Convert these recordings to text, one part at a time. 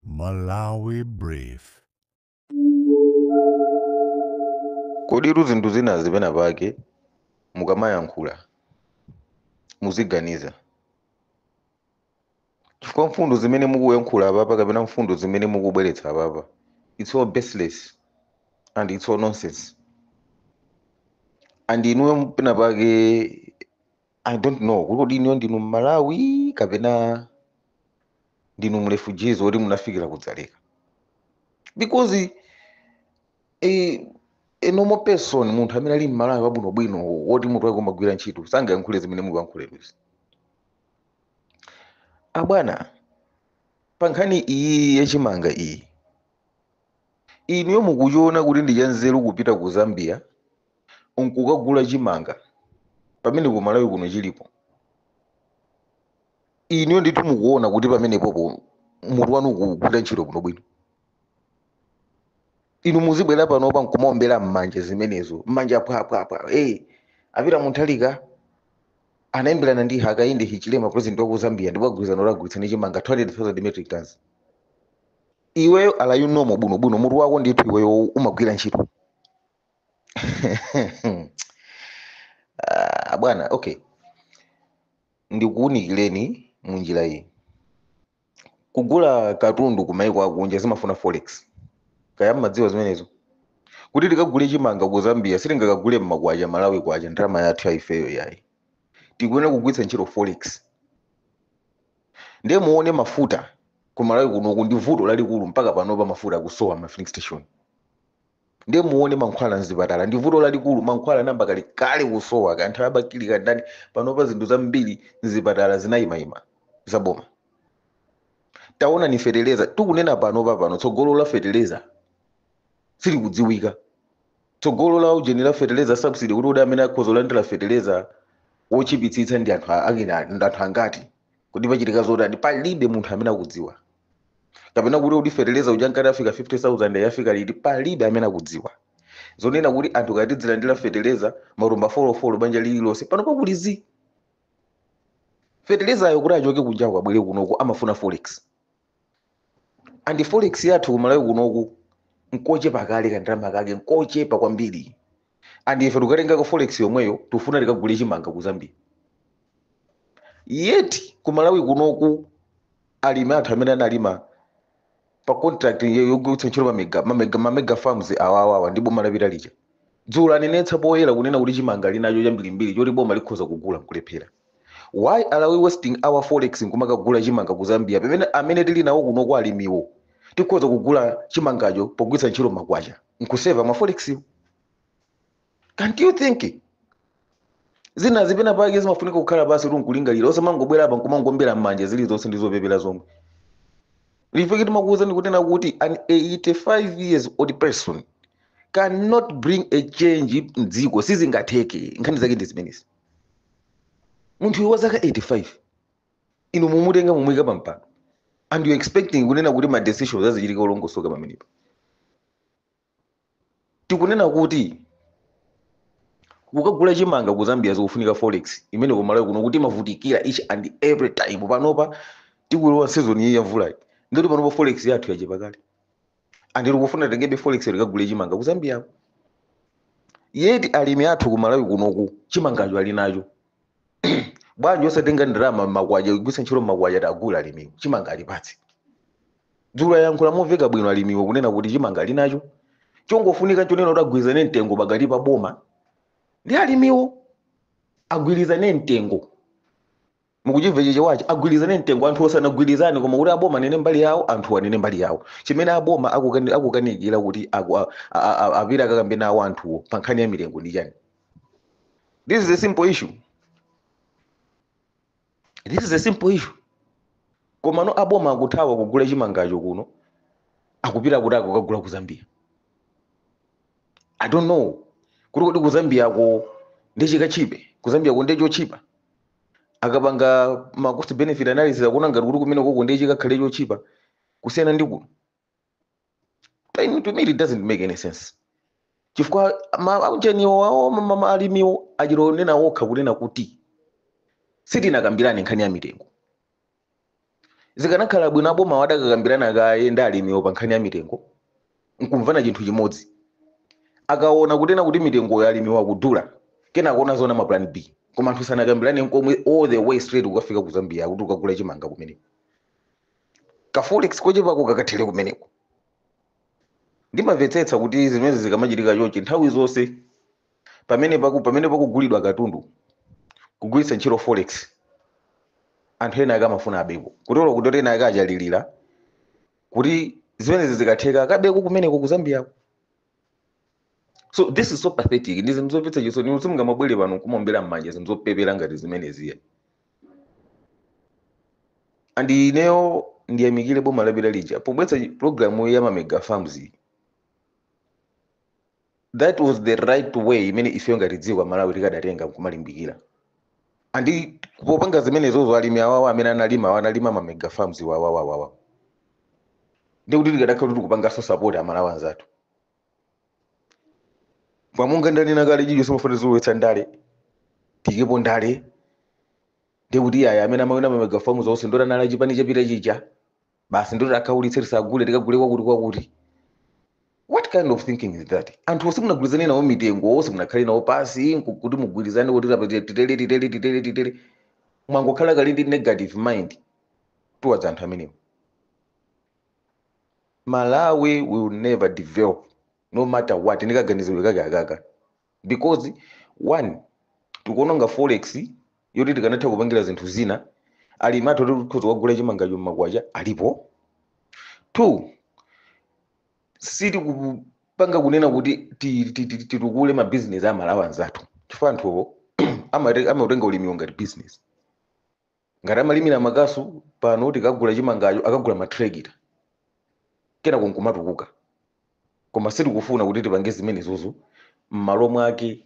Malawi Brief. koditu zinthu zina penapake mukamayankhula muziganiza chifukwa mfundo zimene mukuyankhula apapa kapena mfundo zimene mukubweretsa apapa it's all baseless and it's all nonsense and inuyo pena pake i don't know kuti kodi inuyo ndinu mmalawi kapena ndinu mrefugees woti munafikira kudzaleka because eh, a normal person munthu amene ali mmalawi wabwinobwino woti mutu wake umagwira ntchito sangayankhule zimene mukuyankhula inuzi abwana pa nkhani iyi yachimanga iyi inuyo mukuchiona kuti ndi chanzeru kupita ku zambia nkukagula chimanga pamene ku malawi kuno chilipo inuyo ndithu mukuona kuti pamenepopo mutu wanu ukugwira ntchito bwinobwino inu muzibwera panopa nkumaombera mmanja zimenezo mmanja phwaphwaphwa hey, apita Mutharika anayimbirana ndi hakainde hichilema president waku zambia ndipo agwirizana agwirizana chimanga 200000 metric tons iweyo are you normal bwinobwino mutu wako ndithu iweyo umagwira ntchito Ah, bwana okay ndikuwunikireni mu njira iyi kugula katundu ku maiko akunja zimafuna forex kaya mmadziwa zimenezo kuti tikagule chimanga ku zambia sitingakagule mmakwacha malawi kwacha ndalama yathu yaifeyo yayi tikuyenera kugwiritsa ntchito forex ndiye muone mafuta ku malawi kunoku ndi vuto lalikulu mpaka panopa mafuta akusowa mma filling station ndiye muone mankhwala mzipatala ndi vuto lalikulu mankhwala anayamba kale kale kusowa kaya nthawi ya Bakili kandani panopa zinthu zambiri mzipatala zinayimayima zaboma taonani feteleza tikunena panopa pano tsogolo la feteleza silikudziwika tsogolo la ujeni la feteleza subsidy kuti kuti amene akhoza kulandira feteleza wochipitsitsa ndi anthu a- akina ndi anthu angati kuti pachitika zotani palibe munthu amene akudziwa kapena kuti kuti fertilizer uja ankati afika 50000 yafika liti palibe amene akudziwa zonena kuti anthu ankati tidzilandira fertilizer matumba folofolo banja lililonse panopa kuli zii fertilizer ayo kuti achoke kunjako abwere kunoku amafuna forex and forex yathu kumalawi kunoku nkochepa kale kandalama kake nkochepa kwambiri and ife tikatengako forex yomweyo tifuna tikagule chimanga ku zambia yet kumalawi kunoku alimi athu amene analima pa contract yo- yogwiritsa ntchito mamega mamega mamega farms awawawa ndi boma lapita lija dzulo anenetsa poyera kunena kuti chimanga ali nacho chambirimbiri choti boma likhoza kugula nkulephera why are we wasting our forex nkumakagula chimanga ku zambia pamene ameneyo tili nawo kuno kwa alimiwo tikhoza kugula chimangacho pogwiritsa ntchito makwacha nkuseva ma forex can't you think zinazi penapake zimafunika kukhala pansi kuti nkulingalira osamangobwera apa nkumangombera m'manja zilizonse ndi zopepera zomwe ife timakuwuzani kunena kuti an 85 years old person cannot bring a change mdziko sizingatheke nkhani zake ndi zimenezi munthu uyu wa zaka 85 inu mwamutenga mwamuyika pampano and you expecting kunena kuti ma decisions azichitika olongosoka pamenepo tikunena kuti kukagula chimanga ku zambia zikufunika forex imene ku malawi kuno timavutikira each and every time panopa tikulowa season iyi ya mvulayi ndiye kuti panopa forex yathu yachepa kale and tikufuna titengebe forex tikagule chimanga ku zambia yet alimi athu ku malawi kunoku chimangacho ali nacho bwanji osatenga ndalama makwacha kugwiritsa ntchito makwacha kuwagula alimiwo chimanga alipatse dzulo ayankhula moveka bwino alimiwo kunena kuti chimanga ali nacho chongofunika chonena kuti agwirizane mtengo pakati pa boma ndi alimiwo agwirizane mtengo mukuchimva chichewachi agwirizane mtengo anthu osanangogwirizana koma kuti aboma anene mbali yawo anthu anene mbali yawo chimene aboma akukani- akukanikira kuti aku- a- a- a- apite akakambe nawo anthuwo pa nkhani ya mitengo ndi chani this is a simple issue this is a simple issue komano aboma akuthawa kugula chimangacho kuno akupita kuti akagule ku zambia i don't know kuti kodi ku zambiako nde chikatchipe ku zambiako nde chotchipa akapanga ma cost benefit analysis akuona ngati kuti kumene koko nde chikakhale chotchipa kusiyana ndi kuno To me it doesn't make any sense chifukwa ma- aujeniwo awo ma- ma- ma- alimiwo achita kunena okha kunena kuti sitinakambirane nkhani ya mitengo zikanakhala bwino aboma adakakambirana kaye ndi alimiwo pa nkhani ya mitengo nkumvana chinthu chimodzi akaona kunena kuti mitengoyo alimiwo akudula kena akuona zona ma plan b koma anthu sanakambirane nkomwe all the way straight kukafika ku zambia kuti akagule chimanga kumeneko kaforex kochepako kakathele kumeneko ndimamvetsetsa kuti zimenezi zikamachitika chonchi nthawi zonse pamene paku pamene pakugulidwa katundu kugwiritsa ntchito forex anthu ena ake amafuna abeko kutero kuti ena ake akalilira kuti zimenezi zikatheka akabeko kumeneko ku zambiako so this is so pathetic ndi zinthu zomvetsa chisoni inu simungamabwere pano nkumaombera mmanja zinthu zopepera ngati zimeneziya and ineyo ndiyamikire boma lapita lija pobweretsa programu ya mamega farms iyi. that was the right way imene ifeyo ngati dziko la Malawi tikadatenga nkumalimbikira andi popanga zimenezozo alimi awawa amene analima analima ma mega farms awawa ndikuti tikadakhala kuti tikupanganso support amalawi anzathu koma monga ndanena kale chija simafuna kulowetsa ndale tiikepo ndale ndikuti aya amene amawina ma mega farms onse ndi oti anali achipani chapita chija basi ndiye tiwakhaulitse tisagule tikagule kwakuti kwakuti what kind of thinking is that anthu simunagwirizane nawo mitengo simunakhale nawo pansi nku- kuti mugwirizane kuti apa tite- titere titere titere titere mwangokhala kale ndi negative mind towards anthu amenewo malawi will never develop no matter what ndikaganizidwe kake akaka because one tikuononga forex yoti tikanatha kupangira zinthu zina alimi athu oti tikhoza kugula chimangacho mmakwacha alipo two sitikupanga kunena kuti ti- ti- ti- titukule mabizinesi amalawi anzathu chifukwa anthuwo amate- amatenga ulimiwo ngati business ngati amalimira makasu pano tikagula chimangacho akagula matrekita kenako nkumatukuka koma sitikufuna kuti tipange zimenezozo m'malo mwake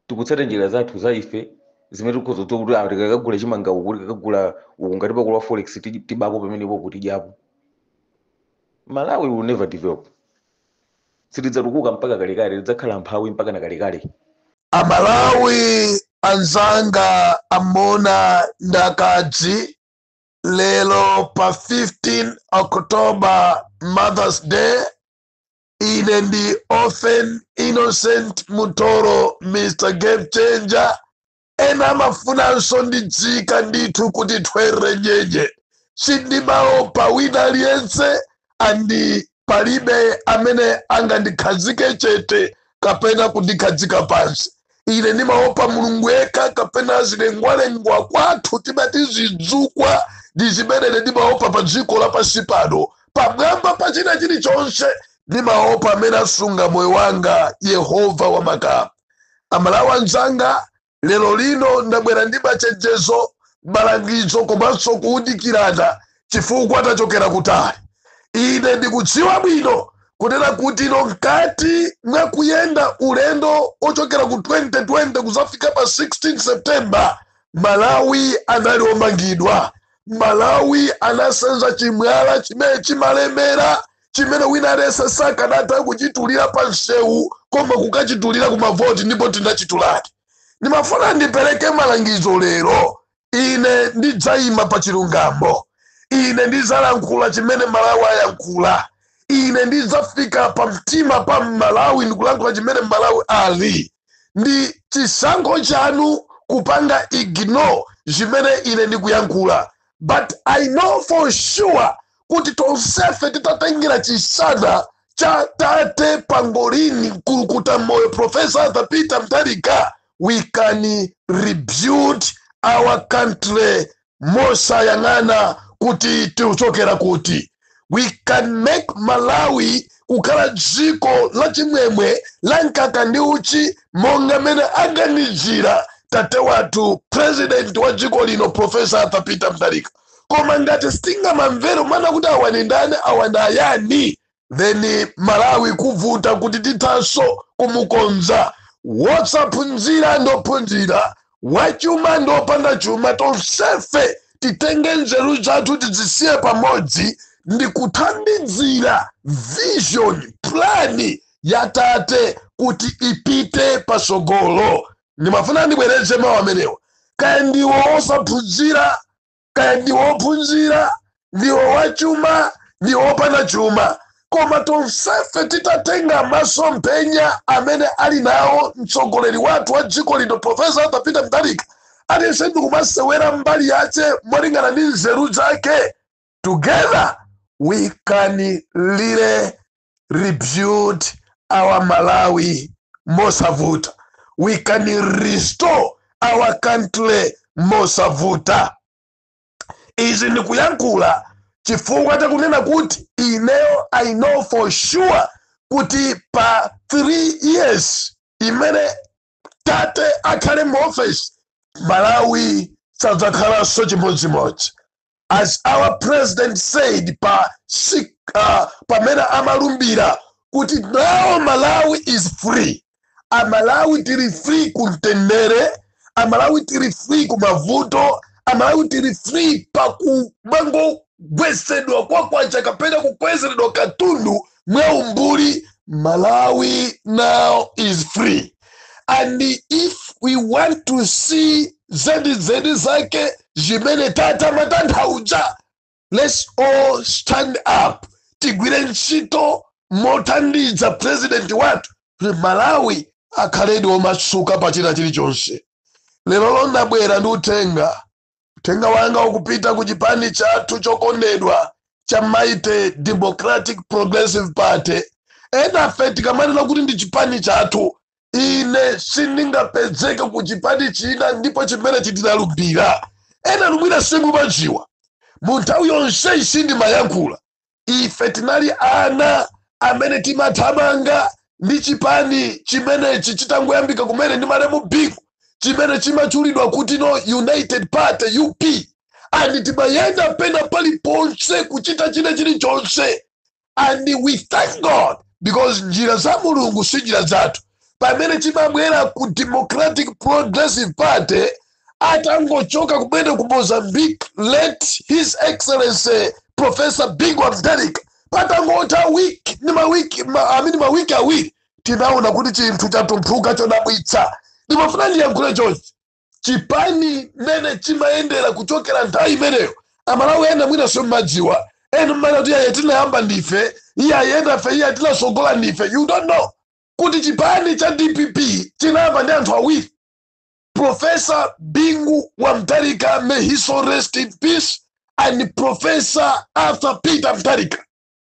tikutsata njira zathu za ife zimene tikhoza kudziwa kuti ah, tikakagula chimanga uku tikakagula uku ngati pakulowa forex ti- tibapo pamenepo kuti tidyapo malawi will never develop silidzatukuka mpaka kalekale lidzakhala mphawi mpaka na kalekale amalawi anzanga amuna ndi akazi lero pa 15 october mothers day ine ndi orphan innocent mutoro mr game changer ena amafuna azinditcha ndithu kuti thwerere nyenye sindimaopa wina aliyense andi palibe amene angandikhazike chete kapena kundikhazika pansi ine ndimaopa mulungu yekha kapena zilengwalengwa kwathu timati zidzukwa ndi zimene ndimaopa pa dziko lapansi pano pamwamba pa china chilichonse ndimaopa amene asunga moyo wanga yehova wa makamu Amalawi anzanga, lero lino ndabwera ndi machenjezo, malangizo komanso kuunikirana chifukwa tachokera kutali. Ine ndikudziwa bwino kunena kuti inu mkati mwa kuyenda ulendo wochokera ku 2020 kudzafika pa 16 September, Malawi anali omangidwa. Malawi anasenza chimwala chimene chimalemera chimene wina aliyense sakanatha kuchitulira pa msewu koma kukachitulira ku mavoti ndipo tinachituladi ndimafuna ndipereke malangizo lero ine ndidzayima pa chilungamo ine ndidzalankhula chimene malawi ayankhula ine ndidzafika pa mtima pa malawi ndikulankhula chimene malawi ali ndi chisankho chanu kupanga ignore zimene ine ndikuyankhula but i know for sure kuti tonsefe titatengera chitsanzo cha tate pangolini mkulukuta moyo profesa arthur peter mutharika we can rebuild our country mosayang'ana kuti tikuchokera kuti we can make malawi kukhala dziko lachimwemwe la mkaka ndi uchi monga mmene aganizira tate wathu president wa dziko lino profesa arthur peter mutharika koma ngati tizingomangwerumana kuti awa ndi ndani awa ndi ayani then malawi kuvuta kuti tithanso kumukonza wosaphunzira ndi ophunzira wachuma ndi opanda chuma tonsefe titenge nzeru zathu tizisiye pamodzi ndi kuthandizira vision plani ya tate kuti ipite pasogolo ndimafuna ndibwereze mawu amenewa kaya ndiwo wosaphunzira kaya ndiwo wophunzira ndiwo wachuma ndiwo wopanda chuma koma tonsefe titatenga masomphenya amene ali nawo mtsogoleri wathu wa dziko lino profesa arthur peter mutharika aliyense ndikumasewera mbali yace molingana ndi nzeru zake together we can really rebuild our malawi mosavuta we can restore our country mosavuta izi ndikuyankhula chifukwa chakunena kuti ineyo i know for sure kuti pa 3 years imene tate akhale mu office malawi sadzakhalanso chimodzimodzi as our president said pa pamene amalumbira kuti now malawi is free amalawi tili free kumtendere amalawi tili free kumavuto amalawi tili free pakumangogwetsedwa kwa kwacha kapena kukwezeredwa katundu mwa umbuli malawi now is free and if we want to see zenizeni zake zimene tate amatanthauza let's all stand up tigwire ntchito mothandiza president wathu kuti malawi akhaledi omasuka pa china chilichonse lero lo ndabwera ndi uthenga uthenga wanga ukupita ku chipani chathu chokondedwa cha mighty democratic progressive party enafe tikamanena kuti ndi chipani chathu ine sindingapezeke ku chipani china ndipo chimene chija tinalumbira enanu mwina simumadziwa mu nthawi yonseyi sindimayankhula ife tinali ana amene timathamanga ndi chipani chimenechi chitangoyambika kumene ndi malemu bingu chimene chimachulidwa kuti no united party up and timayenda pena paliponse kuchita china chilichonse and we thank god because njira za mulungu si njira zathu pamene chimabwera ku democratic progressive party atangochoka kumene ku mozambique late his excellency professor bingu wa mtharika patangotha wiki, i mean mawiki awiri tinaona kuti chinthu chatumphuka chodabwitsa ndimafuna ndiyankhule chonchi chipani mmene chimayendera kuchokera nthawi imeneyo amalawi ena mwina simmadziwa ena mmanena kuti iye tinayamba ndife iye ayi ndife iye atinasogola ndife you don't know kuti chipani cha dpp chinayamba ndi anthu awiri Professor Bingu wa Mtharika, may his soul rest in peace, and Professor Arthur Peter Mtharika.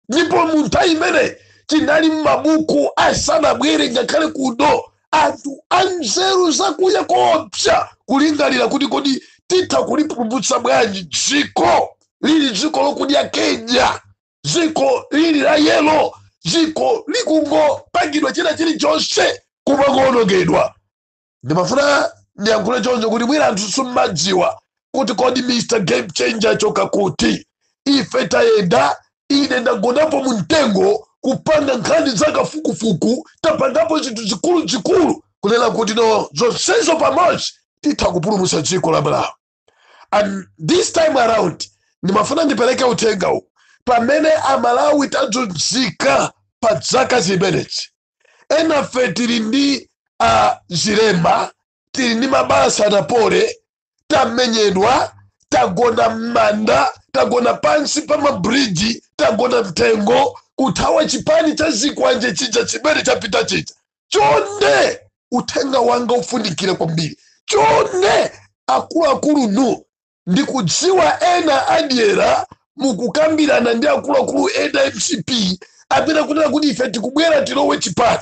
Ndipo mu nthawi imene chinali m'mabuku asanabwere ngakhale kuno anthu anzeru zakuya koopsa kulingalira kuti kodi titha kulipulumutsa bwanji dziko lili dziko lokudya kenya dziko lili la yelo dziko likungopangidwa china chilichonse kumangoonongedwa ndimafuna ndiyankhule choncho kuti mwina anthu simmadziwa kuti kodi mr game changer achoka kuti ife tayenda ine ndagonapo mu mtengo kupanga nkhani za kafukufuku tapangapo zinthu zikuluzikulu kunena kuti no zonsezo pamodzi titha kupulumutsa dziko la malawi and this time around ndimafuna ndipereke uthengawu pamene amalawi tadzunzika pa zaka zimenezi enafe tili ndi uh, zilema tili ndi mabala sanapole tamenyedwa tagona m'manda tagona pansi pa mabridji tagona mtengo kuthawa chipani cha zikwanje chija chimene chapita chija chonde uthenga wanga ufunikire kwambiri chonde akuluakulu inu ndikudziwa ena adyera mukukambirana ndi akuluakulu ena a mcp amene akunena kuti ife tikubwera tilowe chipani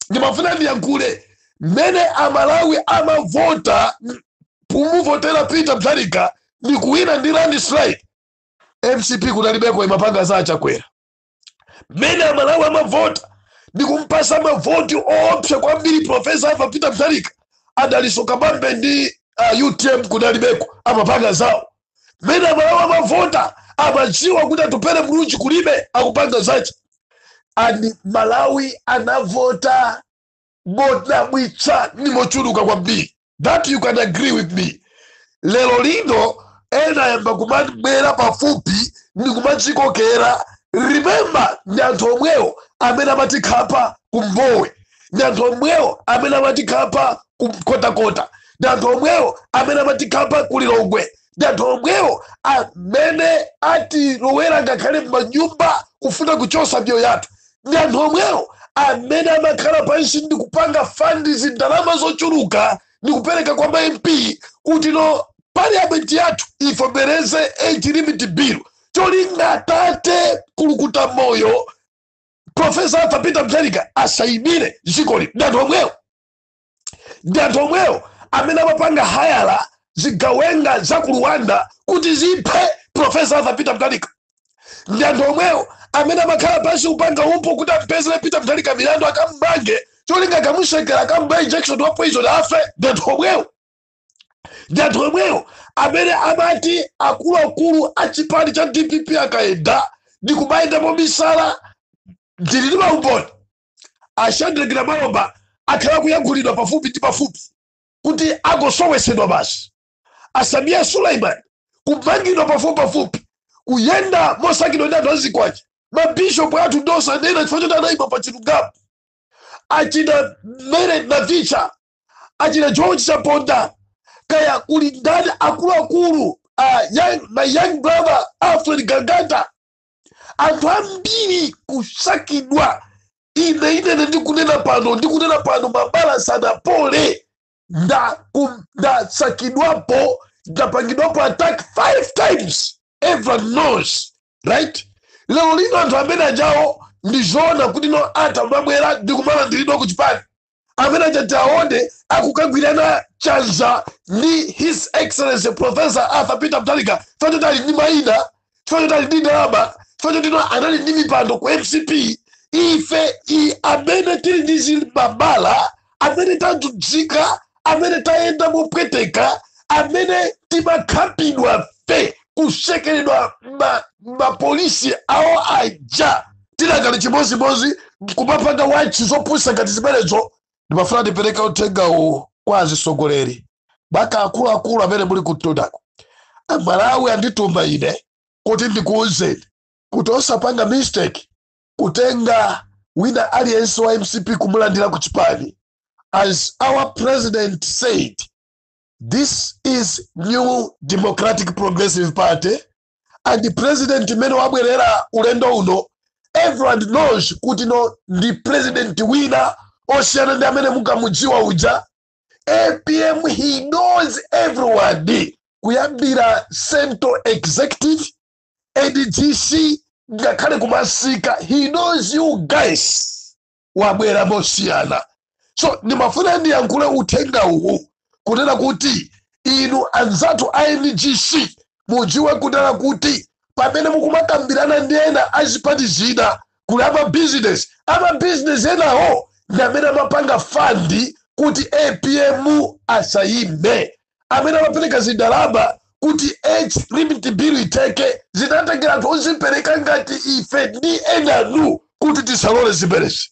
ndimafuna ndiyankhule mmene amalawi amavota m- kumuvotera peter mtharika ndi kuwina ndi landslide mcp kunalibeko imapanga za achakwera mmene amalawi amavota ndi kumpasa mavoti oopsa kwambiri profesa arthur peter mtharika adaliso kabambe ndi uh, utm kudalibeko amapanga zawo mmene amalawi amavota amadziwa kuti atupele muluzi kulibe akupanga zace and malawi anavota modabwitsa ndi mochuluka kwambiri that you can agree with me lero lino ena ayamba kumabwera pafupi ndi kumadzikokera remember ndi anthu omwewo amene amatikhapa kumbowe ndi anthu omwewo amene amatikhapa kunkhotakota ndi anthu omwewo amene amatikhapa kulilongwe ndi anthu omwewo amene atilowera ngakhale m'manyumba kufuna kuchotsa miyoyo yathu ndi anthu omwewo amene amakhala pansi ndi kupanga fund zindalama zochuluka ndi kupereka kwa ma mp kuti no parliament yathu ivomereze age limit bill cholinga atate kulukuta moyo profesa arthur peter mthalika asayimire dzikoli ndi anthu omwewo ndi anthu omwewo amene amapanga hayala zigawenga za ku rwanda kuti ziphe profesa arthur peter mtalika ndi anthu omwewo amene amakhala pansi kupanga upo kuti ampezere peter mtalika milandu akammange cholinga akamutsekera akamubaya injection wa poison afe ndi anthu omwewo ndi anthu omwewo amene amati akuluakulu a chipani cha dpp akayenda ndi kumayenda mobisala ndili ndi maumboni ashandrekira malomba akhala akuyankhulidwa pafupi ndi pafupi kuti angosowetsedwa basi asamiya suleiman kumangidwa pafupi pafupi kuyenda mosakidwa ndi anthu azikwanje mabishopu athu ndosanena chifukwa choti anayima pa chilungamo achina mary navicha achina george chaponda kaya kuli ndani akuluakulu my young brother alfred gangata anthu ambiri kusakidwa ine inene ndikunena pano ndikunena pano mabala sanapole ndasakidwapo ndapangidwapo attack five times everyone knows right lero lino anthu amene ajawo ndizoona kuti no atamabwera ndikumalandiridwa ku chipani amene aja tiaone akukagwirana chanza ndi his excellency professor arthur peter mtalika chifukwa choti ali ndi mayina chifukwa choti ali ndi ndalama chifukwa choti no anali ndi mipando ku mcp ife i amene tili ndi zilibabala amene tadzunzika amene tayenda mopweteka amene timakhapidwa fe kutsekeredwa mapolisi awo aja tidakali chimozimozi mkumapanga wachi zopusa ngati zimenezo ndimafuna ndipereka uthenga uwu kwa azisogoleri maka akuluakulu amene muli kutundako amalawi andituma ine kuti ndikuwuzeni kuti osapanga mistake kutenga wina aliyense wa mcp kumulandira ku chipani as our president said this is new democratic progressive party and president mmene wabwerera ulendo uno everyone knows kuti no ndi president wina osiyana ndi amene mukamudziwa uja apm he knows everyone kuyambira central executive adgc ngakhale kumasika he knows you guys wabwera mosiyana so ndimafuna ndiyankhule uthenga uwu kunena kuti inu anzathu a ngc mudziwe kunena kuti pamene mukumakambirana ndi ena azipati zina kuli amabizinesi amabizinesi enawo ndi amene amapanga fund kuti apm asayime amene amapereka zindalama kuti age limit bill itheke zinatengera anthu ozipereka ngati ife ndi enanu kuti tisalole zimenezi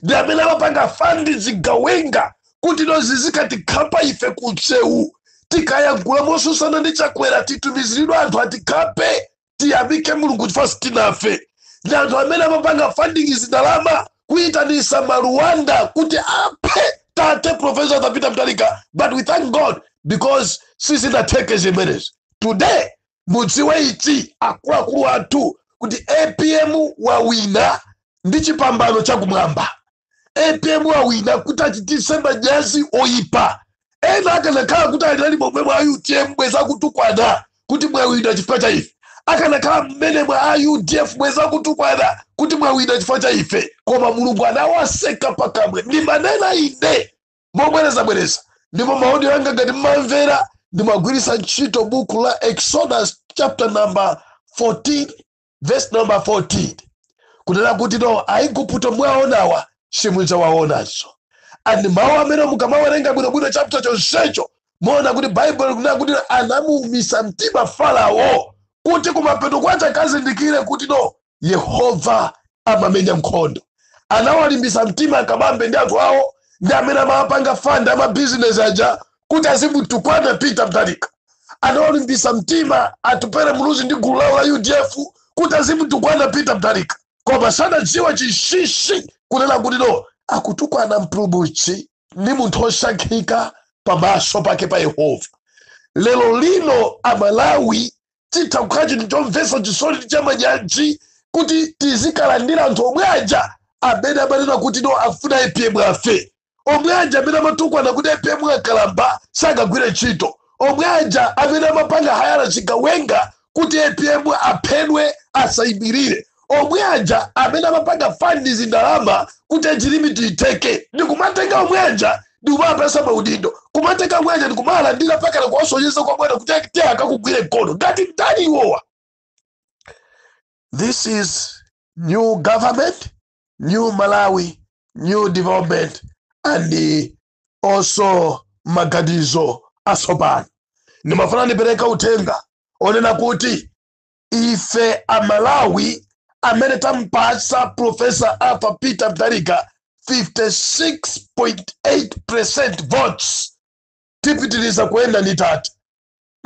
ndi amene amapanga fund zigawenga kuti no zizikatikhapa ife ku msewu tikayagula mosusana ndi chakwera titumiziridwe anthu atikhape tiyamike mulungu chifukwa sitinafe ndi anthu amene amapanga funding zindalama kuyitanisa maruwanda kuti aphe tate professor Arthur Peter Mutharika but we thank god because sizinatheke zimenezi today mudziwe ichi akuluakulu athu kuti apm wawina ndi chipambano chakumwamba apm wawina kuti achitise manyazi oyipa ena akanakhala kuti anali momwe mwa utm bwez akutukwana kuti mwawina chifukwa cha ife akanakhala mmene mwa udf bwez akutukwana kuti mwawina chifukwa cha ife koma mulungu anawaseka pakamwa ndimanena ine mobwerezabwereza ndipo maoni anga ngati mmamvera ndimagwiritsa ntchito buku la exodus chapter number 14 verse number 14 kunena kuti no aigupto mwaonawa simudzawaonanso and mawu amene mukamawerenga bwinobwino chapter chonsecho muona kuti baibulo likunena kuti anamuumisa mtima farao kuti kumapeto kwache akazindikire kuti no yehova amamenya nkhondo anawalimbisa mtima akabambe ndi anthu awo ndi amene amapanga fund amabizinesi aja kuti azimutukwana peter mutharika anawalimbisa mtima atupere muluzi ndi gulu lawo la udf kuti azimutukwana peter mutharika koma sanadziwa chinsinsi kunena kuti no akutukwana mpulumutsi ndi munthu osankhika pamaso pake pa yehova lero lino amalawi chitha kukhala chinthu chomvetsa chisoni ndi chamanyazi kuti tizikalandira anthu omwe aja amene amanena kuti no afuna apm afe omwe aja amene amatukwana kuti apm akalamba sakagwire ntchito omwe aja amene amapanga hayala chigawenga kuti apm aphedwe asayimirire omwe aja amene amapanga fandi zindalama kuti age limit itheke ndikumatenga omwe aja ndikumapatsa maudindo kumatenga omwe aja ndikumalandira mpakana kuwasonyeza kwa bwana kuti ati akakugwire mkono ngati ndani iwowa this is new government new malawi new development and also maganizo atsopano ndimafuna ndipereke uthenga onena kuti ife amalawi amene tampatsa profesa arthur peter mutharika 56.8% votes tipitiriza kuyenda ndi tata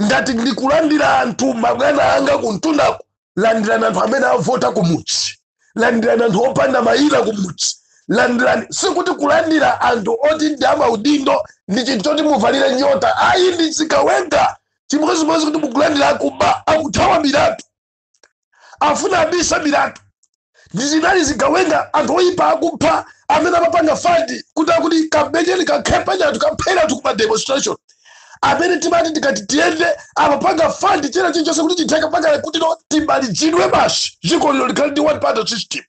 ngati ndikulandira anthu mabwana anga kumtundako landirani anthu amene avota kumudzi landirani anthu opanda mayina kumudzi landirani sikuti kulandira anthu oti ndi amaudindo ndi chinthu choti muvalile nyota ayi ndi zigawenga chimodzimodzi kuti mukulandira akuba akuthawa milandu afuna abise milandu zinali zigawenga anthu oyipa akupha amene amapanga fandi kuti akuti kamenyeni kakhapeni anthu kapheni anthu kuma demonstration amene timati tikati tiyende amapanga fandi china chilichose kuti chitheke apange kuti no timalizidwe basi dziko lino likhale ndi one party system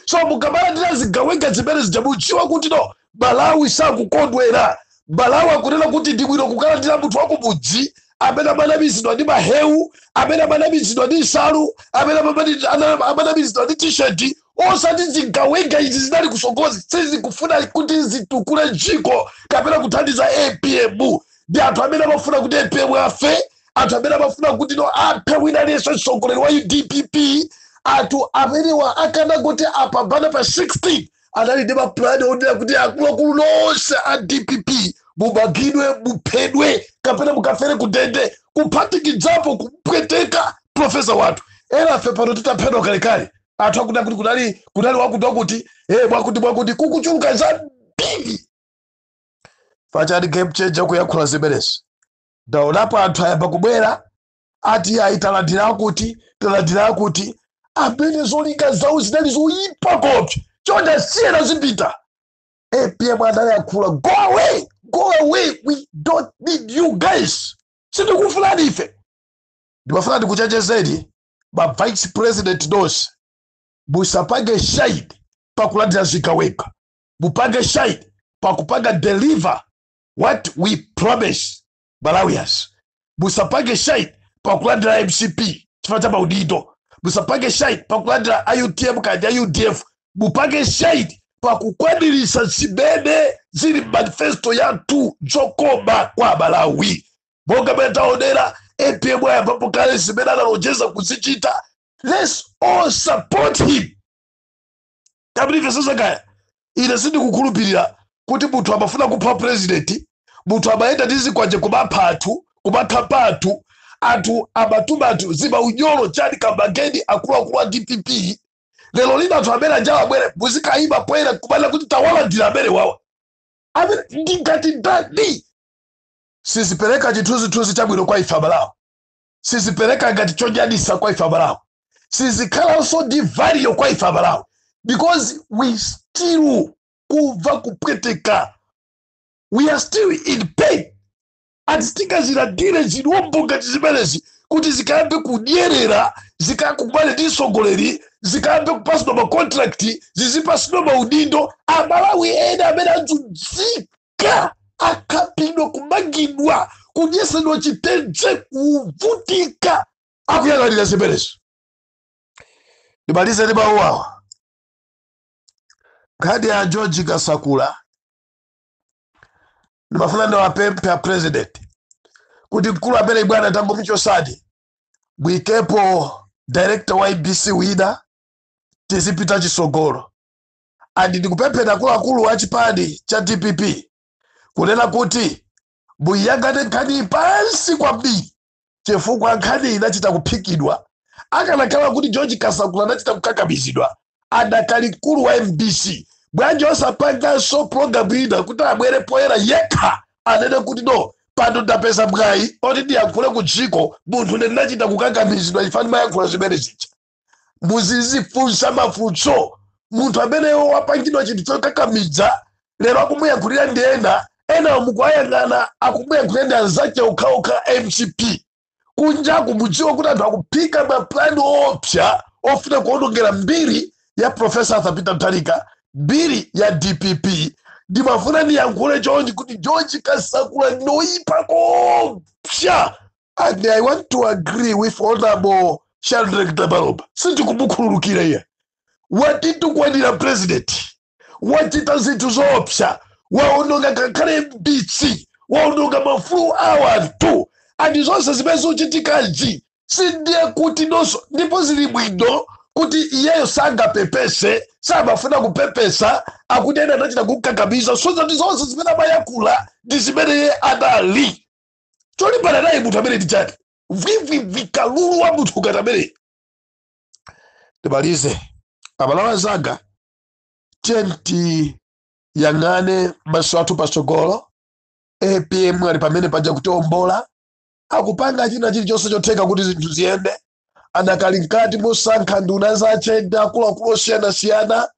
so mukamalandira zigawenga zimene zija mudziwe kuti no Amalawi sakukondwera. Amalawi akunena kuti ndi bwino kukalandira munthu wa kumudzi amene amanamizidwa ndi mahewu, amene amanamizidwa ndi nsalu, amene amamani- ana- amanamizidwa ndi tisheti, osati zigawenga izi zinali kutsogolozi sizikufuna kuti zitukule dziko kapena kuthandiza apm ndi anthu amene amafuna kuti apm afe anthu amene amafuna kuti no aphe wina aliyense mtsogoleri wathu dpp anthu amenewa akanangoti apambana pa 16 anali ndi mapulani onena kuti akuluakulu nonse a dpp mumangidwe muphedwe kapena mukafere kundende kuphatikizapo kupweteka profesa wathu enafe pano titaphedwa kalekale anthu akuti akuti kunali kunali wakuti wakuti eh mwakuti mwakuti ndikuchuluka zambiri pachani game changer kuyankhula zimenezi ndaonapo anthu ayamba kubwera ati ayi talandira akuti talandira akuti amene zolinga zawo zinali zoyipa kopsa chonde asiyena zipita apm anayankhula go away go away we don't need you guys sitikufunani ife ndimafuna ndikuchenjezeni ma vice president nonse musapange shine pakulandira zigawenga mupange shine pakupanga deliver what we promise Malawians musapange shine pakulandira mcp chifukwa cha maudindo musapange shine pakulandira a utm kaya a udf mupange shine pakukwaniritsa zimene zili mmanifesto yathu zokoma kwa malawi monga mene taonera apm ayambapo kale zimene analonjeza kuzichita let's all support him kabili ifyo sosakaya ine sindikukhulupirira kuti munthu amafuna kupha purezidenti munthu amayenda ndi zikwanje kumapha anthu kumakhapa anthu anthu amatuma anthu zimaunyolo chani kamageni akuluakulu a dpp lero lino anthu amene aja abwere muzikayima poyera kumanena kuti tawalandira amenewa amene ndingati ndani sizipereka chithunzithunzi chabwino kwa ife amalawi sizipereka ngati chonyadisa kwa ife amalawi sizikhalanso ndi value kwa ife amalawi because we still kumva kupweteka we are still in pain ati sitingazilandire zilombo ngati zimenezi kuti zikayambe kudyerera zikakumane ndi mtsogoleri zikayambe kupasidwa makontrakti zizipasidwa maudindo amalawi ena amene anzunzika kuvutika akhapidwa kumangidwa kuyesedwa chitenje kuvutika akuyang'anira zimenezo ndimalize ndi mawu awa nkhani ya george kasakula ndimafuna ndiwapemphe a president kuti mkulu ameneyi bwana tangomuchosani mwikepo director wa mbc wina tizipita chisogolo and ndikupempha akuluakulu a chipani cha dpp kunena kuti muiyang'ane nkhaniyi pansi kwambiri chifukwa nkhaniyi inachita kuphikidwa akanakhala kuti george kasakula anachita kukakamizidwa adakali mkulu wa mbc bwanji osapanganso pulogalamu ina kuti abwere poyera yekha anene kuti no pano ndapeza mwayi oti ndiyankhule ku dziko munthu ndinachita kukakamizidwa chifukwa ndimayankhula zimene zija muzizifunsa mafunso munthu amene wapangidwa chinthu chokakamiza lero akumuyankhulira ndi ena enawo mukuwayang'ana akumuyankhulira ndi anzake okhaokha mcp kunjaku mudziwe kuti anthu akuphika mapulani oopsa ofuna kuonongera mbiri ya profesa arthur peter mutharika mbiri ya dpp ndimafuna ndiyankhule chonchi kuti george kasakula ndi oyipa kopsa and i want to agree with honorable Shadreck Namalomba sindikumukhululukira iye watitukwanira president wachita zinthu zoopsa waononga ngakhale mbc waononga maufulu a anthu andi zonse zimene zochitikazi sindiye kuti nonso ndipo zili bwino kuti iyeyo sangapepese samafuna kupepesa akuti ena anachita kumkakamiza so zati zonse zimene amayankhula ndi zimene iye adali cholimbana naye munthu amene ndi chani vwivwivwi kalulu wa munthu ngati amene ndimalize aMalawi anzanga tiyeni tiyang'ane maso athu patsogolo apm ali pamene paja kutiombola akupanga china chilichonse chotheka kuti zinthu ziyende anakali mkati mosankha nduna zache ndi akuluakulu osiyanasiyana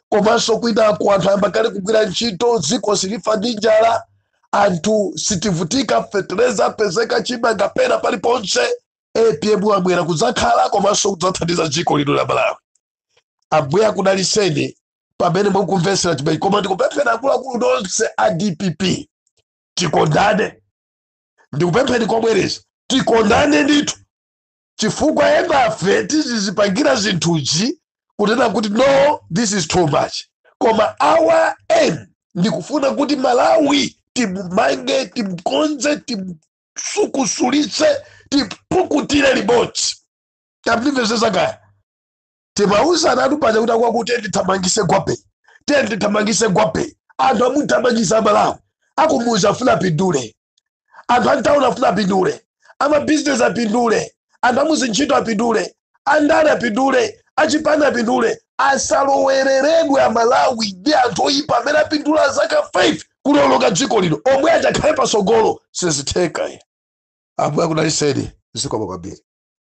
komanso kwinako anthu ayamba kale kugwira ntchito dziko silifa ndi njala anthu sitivutika fetereza apezeka chimanga pena paliponse apm abwera kudzakhala komanso kudzathandiza dziko lino la malawi ambuye akudalitseni pamene mukumvetsera chimenechi koma ndikupempheni akuluakulu nonse a dpp tikondane ndikupempheni mobwereza tikondane ndithu chifukwa enafe sitizipangira zinthuzi kunena kuti no this is too much koma our aim ndikufuna kuti malawi timumange timukonze timusukusulitse tipukutire limodzi tamvetsetsa kaya timauzanatu paja kuti akati tiye tithamangise gwape tiye tithamangise gwape anthu amuthamangisa amalawi akumuza afuna apindule anthu a m'tauni afuna apindule amabizinesi apindule anthu amuzintchito apindule andale apindule achipani apindule asaloweleredwe amalawi ndi anthu oyipa amene apindula zaka 5 kulonga dziko lino omwe adzakhale pasogolo sizitheka ambuye akudalitseni zikomo kwambiri